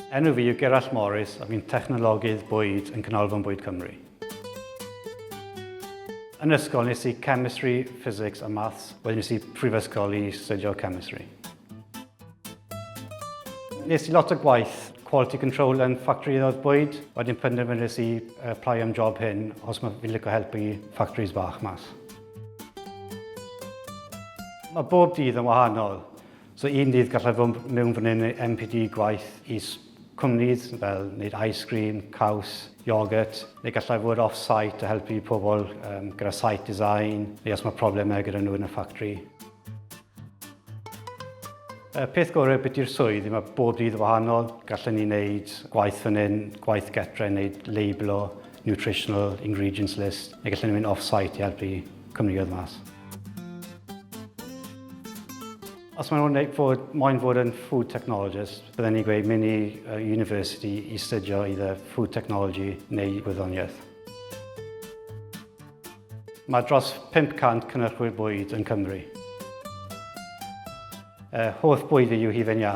Enw fi yw Gerallt Morris a fi'n technologydd bwyd yn Canolfan Bwyd Cymru. Yn ysgol nes i chemistry, physics a maths, wedyn nes i prifysgol i studio chemistry. Nes i lot o gwaith quality control yn ffactri oedd bwyd. Wedyn penderfynus i apply am job hyn os mae fi'n licio helpu ffactris fach mas. Mae bob dydd yn wahanol. So un dydd gallai fod mewn fan hyn MPD gwaith i cwmnid fel wneud ice cream, caws, yoghurt, neu gallai fod off-site a helpu pobl um, gyda site design, neu os mae problemau gyda nhw yn y ffactri. Y peth gorau beth i'r swydd, mae bob dydd yn wahanol. Gallen ni wneud gwaith fan hyn, gwaith getre, wneud labelo, nutritional ingredients list, neu gallen ni mynd off-site i helpu cwmnioedd mas. Os maen nhw'n fod, moyn fod yn food technologist, bydden ni'n gweud mynd i uh, university i studio either food technology neu gwyddoniaeth. Mae dros 500 cynhyrchwyr bwyd yn Cymru. Uh, holl bwyd fi yw hufen iâ.